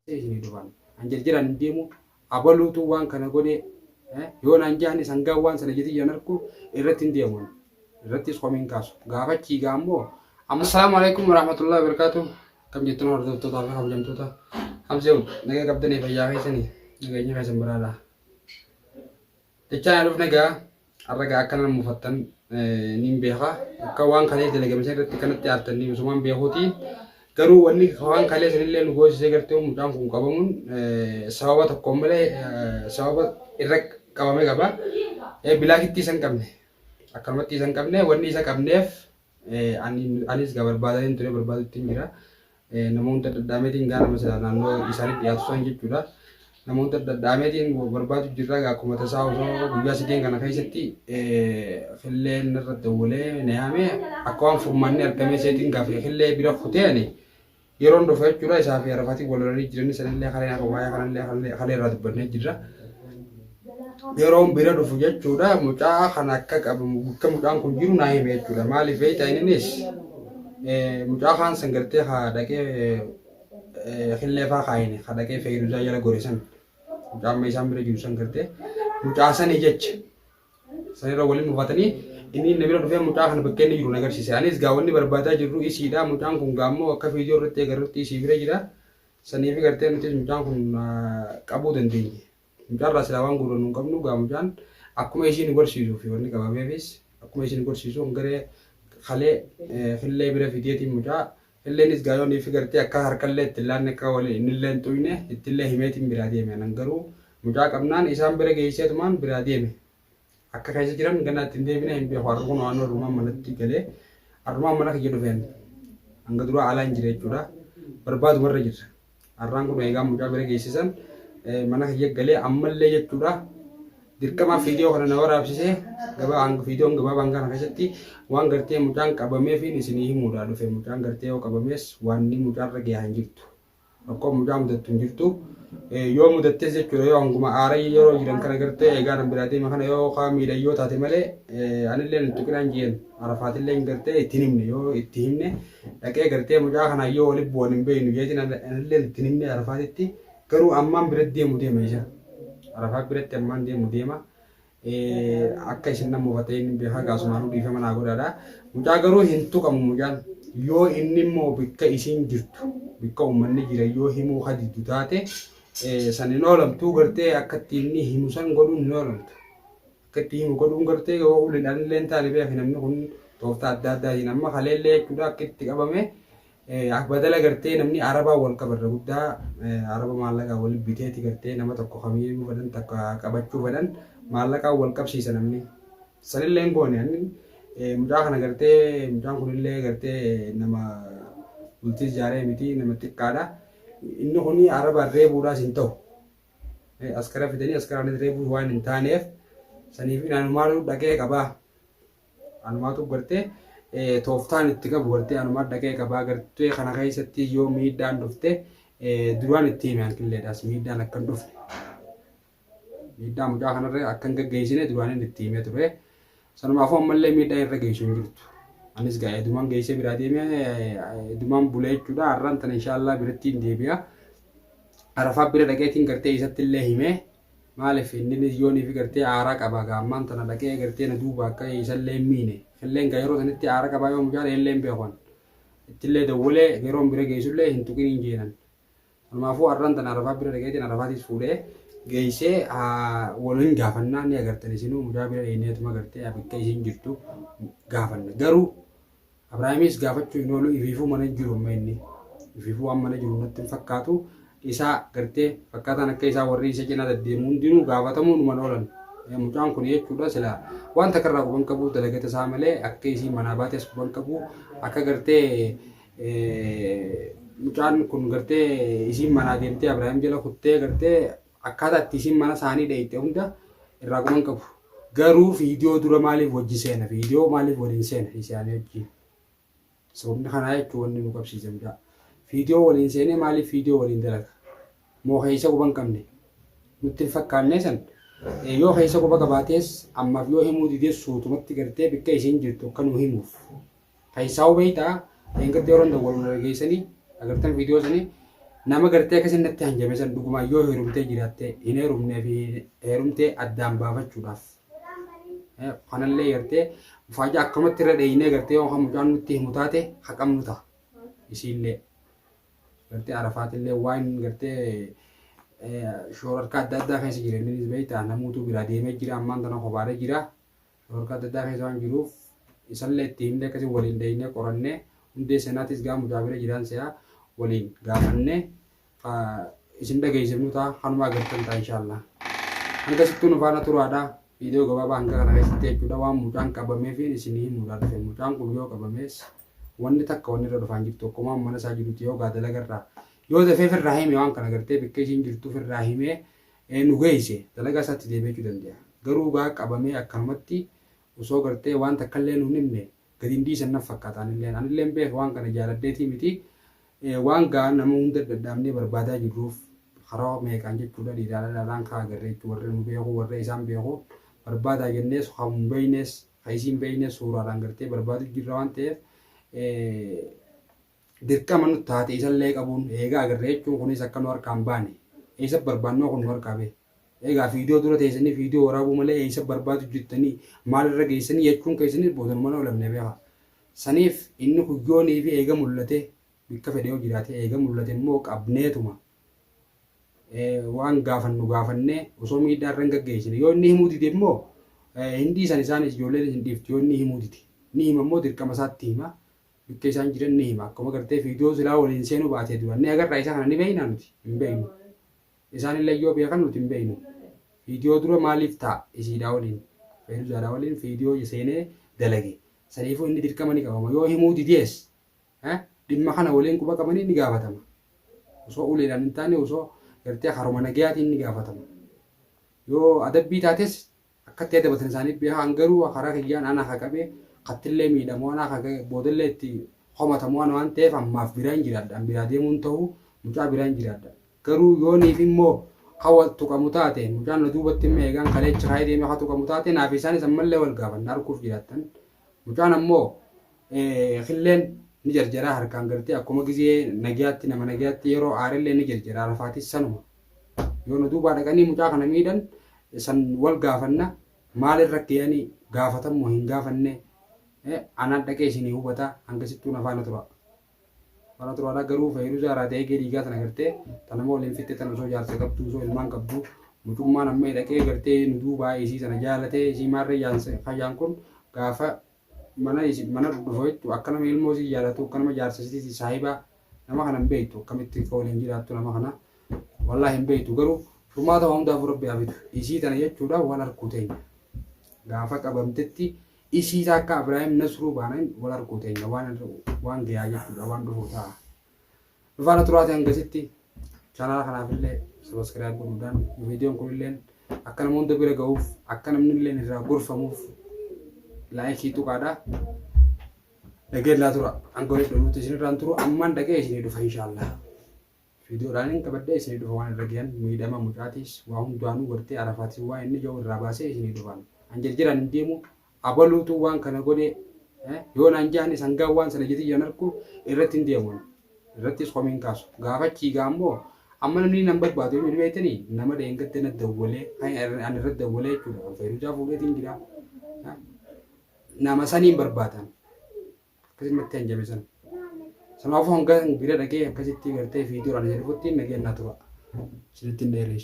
Sii isinii duraan an jarjaraan hin deemuu abaluutuu waan kana godhee eh, yoo naan jahani sangaa waan sana jetii jiran arkuu irratti hin deemuun irrattis komiin kaasu gaafachii gaa ammoo amma assalaamu alaikum warahmatullahi wabarakatuh kam jettan hordoftootaa fi kabajamtoota hamseewu nagaa qabdanii fayyaa keessanii nageenyi keessan biraadhaa Dachaa na dhufne gaa har'a gaa akka nama mufattan niin beeka akka waan kalee dalagame san irratti kanatti aartan niin usumaan beekuuti garuu wanni waan kalee san illee nu goosisee gartee mucaan kun qabamuun sababa tokko malee sababa irra qabame qaba bilaakittii san qabne akkanumatti isan qabne wanni isa qabneef anis gaa barbaadaniin ture barbaaduttiin jira namoonta dhadhaameetiin gaa nama silaa naannoo isaanii dhiyaatu san jechuudha. Namoota dhadhaameetiin barbaadu jirra gaa akkuma tasaa osoo guyyaa sadeen kana keessatti killee narra dawwalee na yaame akka waan furmaanni argamee seetiin gaafee killee bira kutee ani yeroon dhufa jechuudha isaa fi arafaatiin wal lolanii jiranii sanillee kaleen akka waa'ee kanallee kalee irraa dubbannee jirra. yeroon bira dhufu jechuudha mucaa kan akka qabamu bakka mucaan kun jiru naa hime jechuudha maaliif beektaa innis mucaa kaan san gartee haa dhaqee killee faa kaayine haa dhaqee feeyiruuzaa jala gore san mucaa amma isaan bira jiru san gartee mucaa sanii jecha sanirra waliin mufatanii inni inni bira dhufee mucaa kana bakka inni jiru na agarsiise anis gaa wanni barbaadaa jirru isiidha mucaan kun gaa ammoo akka viidiyoo irratti agarrutti isii bira jira saniifi gartee nutis mucaan kun qabuu dandeenye. Mucaarraa silaa waan guurrannu hin qabnu egaa mucaan akkuma ishii nu gorsiisuu fi wanni qabameefis akkuma ishii nu gorsiisu hongeree kalee fillee bira fideetiin mucaa filleenis gaa yoo niifi gartee akka harkallee itti hin laanne akka wali innillee hin xuyne ittillee himeetiin biraa deeme anan garuu mucaa qabnaan isaan bira geesseetumaan biraa deeme Akka keessa jiran ganaa itti hin deebine hin beeku. Har'a kun waan arrumaan manatti galee arrumaan mana kiyya dhufeen hanga duraa alaa hin jira jechuudha. Barbaaduma irra jirra. Har'aan kun eegaan mucaa bira geessisan mana kiyya galee ammallee jechuudha. Dirqamaa fiidiyoo kana na waraabsisee gabaa hanga fiidiyoon gabaabaan kana keessatti waan gartee mucaan qabameefiin isinii himuudha dhufe mucaan gartee yoo qabamees waan mucaarra gahaa hin jirtu. Rakkoo mucaa mudattu hin jirtu. Yoo mudattes jechuudha yoo hanguma aarayya yeroo jiran kana gartee eegaa nan biraa deema kana yoo kaa miidhan yoo taate malee anillee hin tuqinaan jeen arafaatillee hin gartee itti himne yoo itti himne dhaqee gartee mucaa kana yoo waliin bu'an hin beeknu jeetiin anillee itti himne arafaatitti garuu ammaan bira deemu deema isa arafaa biratti ammaan deemu deema Akka isin nama hubatee inni beekaa gaasumaanuu dhiifama naa godhaadha. Mucaa garuu hin tuqamu mucaan. Yoo inni immoo bakka isiin jirtu bakka uummanni jira yoo himuu kadiddu taate san hin oolamtuu gartee akka itti inni himu san godhuun hin oolamtu. Akka itti himu godhuun gartee yoo uliidhaan illee hin taane beeki namni kun tooftaa adda addaatiin amma kaleellee jechuudha akka itti qabame Akbadala gartee namni arabaa wal qaba irra guddaa araba maallaqaa wal biteeti gartee nama tokko kamiyyuu fedhan takka qabachuu fedhan maallaqaa wal qabsiisa namni sanillee hin goone anni mucaa kana gartee mucaan kunillee gartee nama bultii ijaaree miti nama xiqqaadha inni kun arabaan reebuudhaas hin ta'u askara fidanii askaraanis reebuun waan hin taaneef saniif inaan maaluu dhaqee qabaa Anumaatu gartee tooftaan itti qabu gartee anumaan dhaqee qabaa gartee kana keessatti yoo miidhaan dhufte duraan itti hime hanqilleedhaas miidhaan akkan dhufne. Miidhaa mucaa kanarra akkan gaggeessine duraan itti himee ture. Sanumaafuu ammallee miidhaa irra geessu hin jirtu. Anis gaa edumaan geessee biraa deemee edumaan bulee jechuudha. Har'aan tana inshaallah biratti hin deebi'a. Arafaa bira dhaqeetiin gartee isatti illee himee Maalif inninis yooniif gartee aaraa qabaa gaa ammaan tana dhaqee gartee na duuba akka isallee hin miine. Illeen gaa yeroo sanitti aara qabaa yoo mucaa ta'e illee hin beekuan. Ittillee dawwalee yeroon bira geessullee hin tuqin hin jeenan. Kanaafuu arran tana arafaa bira dhaqeetiin arafaatiis fuudhee geessee wal hin gaafannaa ni agartan isinuu mucaa bira dheeneetuma gartee bakka isin jirtu gaafanna. Garuu Abrahaamis gaafachuu hin oolu ifiifuu mana hin jiru amma inni. Ifiifuu waan mana jiru natti hin fakkaatu. Isaa gartee fakkaataan akka isaa warri isa cinaa deddeemu hundinuu gaafatamuu numan oolan. Eh, Mucaan kun jechuudha sila wanta karraa quban qabu dalagata isaa malee akka isii manaa baate as quban qabu akka gartee eh, mucaan kun gartee isiin manaa deemtee Abrahaam jala kuttee gartee Akkaataa itti isiin mana isaanii dheeyxe hunda irraa quban qabu. Garuu viidiyoo dura maaliif wajji seena? Viidiyoo maaliif waliin seena isaanii wajjin? Sababni kanaa jechuun wanni nu qabsiise gudaa. Viidiyoo waliin seenee maaliif viidiyoo waliin dalaga? Moo keessa quban qabne? Nutti hin fakkaannee san. Yoo keessa quba qabaatees ammaaf yoo himuu didees suutumatti gartee bikka isiin jirtu akka nu himuuf Tayisaa'uu beektaa dheengadda yeroo hunda wal walgeessanii agartan viidiyoo sanii nama gartee akkasii natti hanjame san dhugumaa yoo heerumtee jiraatte hin heerumnee fi heerumtee addaan baafachuudhaaf. Kanallee gartee faajaa akkamatti irra dheeynee gartee yoo mucaan nutti himu taate haqamnu ta'a. Isiillee gartee arafaatillee waan gartee shoorarkaa adda addaa keessa jira innis beektaa namuutu biraa deemee jira ammaan tana kobaaree jira. Dhorka adda addaa keessa waan jiruuf isallee itti himnee akkasii waliin deeynee qorannee hundee seenaatis gaa mudaabira jiraan se'aa waliin gaafannee isin dhageessifnu ta'a kanuma agartan ta'a inshaallah. Hanga sittuu nu faana turaadha. Viidiyoo gabaabaa hanga kana keessatti jechuudha waan mucaan qabamee fi isin himuudha dhufe mucaan kun yoo qabamees wanni takka wanni irra dhufaan jirtu akkuma mana isaa jirutti yoo gaadala garraa yoo dafee firraa hime waan kana gartee bikkee isiin jirtu firraa himee Ee nu geeyse dalagaa isaatti deebi'achuu dande'a. Garuu gaa qabamee akkanumatti osoo gartee waan takkallee nuun himne gadi hin dhiisan naf fakkaata anilleen. Anilleen beeka waan kana jaaladheetii miti. Ee waan gaa nama hunda dhadhaabnee barbaadaa jirruuf karaa meeqaan jechuudha dhiiraa dhalaadhaan ka agarre jechuu warri nu beeku warri isaan beeku barbaadaa jennees ka hin beeynees ka isiin beeynees suuraadhaan gartee barbaaduu jirra waan ta'eef ee Dirqama nutti taate isallee qabuun eegaa agarree jechuun kunis akka nu harkaa hin baane eessa barbaannoo kun nu harkaa bee eegaa fiidiyoo dura teessanii fiidiyoo waraabuu malee eessa barbaadu jirtanii maal irra geessanii jechuun keessanii boodanuma nu olamne beekaa saniif inni kuyyoonii fi eega mul'ate bikka fedhe yoo jiraate eega mul'ate immoo qabneetuma waan gaafannu gaafannee osoo miidhaa irra hin gaggeessine yoo inni himuu dide immoo hin dhiisan isaanis ijoolleen hin dhiifti yoo inni himuu dide ni hima immoo dirqama isaatti hima Bittee isaan jiran ni hima akkuma gartee fiidiyoo silaa waliin seenuu baatee duraan ni agarraa isa kana ni beeknaa nuti hin beeknu isaan illee yoo beekan nuti hin beeknu fiidiyoo dura maaliif taa isiidhaa waliin feeruzaadhaa waliin fiidiyoo seenee dalage saniifuu inni dirqama ni qabama yoo himuu didees dhimma kana waliin quba qabanii ni gaafatama osoo uleedhaan hin taane osoo gartee haruma nagayaatiin ni gaafatama yoo adabbii taates Akkatti adda basan isaanii beeka an garuu karaa kiyyaan ana ka qabe kattillee miidhamu ana ka ga'e boodallee itti komatamu ana waan ta'eef ammaaf biraan jiraadha an biraa deemuun ta'u mucaa biraan jiraadha garuu yooniif immoo ka wal tuqamu taate mucaan na duubatti immoo eegaan kaleecha kaa'ee deeme ka tuqamu taate naaf isaanis ammallee wal gaafanna arguuf jiraattan mucaan ammoo killeen ni jarjaraa harkaan gartee akkuma gizee nagyaatti nama nagyaatti yeroo aarillee ni jarjaraa lafaatis sanuma. Yoo nu duubaa dhaqanii mucaa kana miidhan san wal gaafanna maalin rakkiyani gaafatammoo hin gaafanne anaan dhaqee isinii hubata hangasittuu na faana tura. Faana turaadha garuu fayyiduzaa irraa ta'ee dhiigaa tana gartee tana moo waliin fitte tana osoo jaarsa qabdu osoo ilmaan qabdu mucummaan amma dhaqee gartee nu duubaa isii sana jaalatee isii maarree yaan kun gaafa mana isif mana dhufa jettu akka nama ilmoo isii jaalatu akka nama jaarsa isiti saahiba nama kana hin beektu akkamitti akka waliin jiraattu nama kana wallahi hin beektu garuu furmaata waa hundaafuu rabbi haa fidu isii tana jechuudha wal harkuu teenya gaafa qabamtetti isii takka Ibrahim Nasruu baanain wal harkuu teenya waan waan gayaa jechuudha waan dhufu ta'a nu faana turaati hangasitti chaanaala kanaaf illee sabaskiraayib godhuudhaan viidiyoon kun illee akka nama hunda bira ga'uuf akka namni illee irraa gorfamuuf laayikii tuqaadha. Dhageen laa tura hanga walitti dhufuutti isinirraan turu ammaan dhagee isinii dhufa inshaallah. Viidiyoodhaan hin qabadde isinii dhufa waan irra gahan miidhama mucaatiis waa hundaanuu gartee arafaatis waa inni jiru irraa baasee isinii dhufaan. An jirjiraan hin deemu Abaluutu waan kana godhe yoo naan jedhan isan gaa waan sana jetii jiran arku irratti hin deemu ani. Irrattis komii hin kaasu. Gaafa achii gaa ammoo amma namni nan barbaadu eenyuun beektanii nama dheengadda na dawwalee kan an irra dawwalee jechuudha kan fayiruujaa fuudheetiin jira. Nama saniin barbaadan akkasitti natti hanjame sana. Sanaafuu hanga bira dhagee akkasitti gartee fiidiyoo ana jedhutti nageen naa tura. Isinitti hin dheereessu.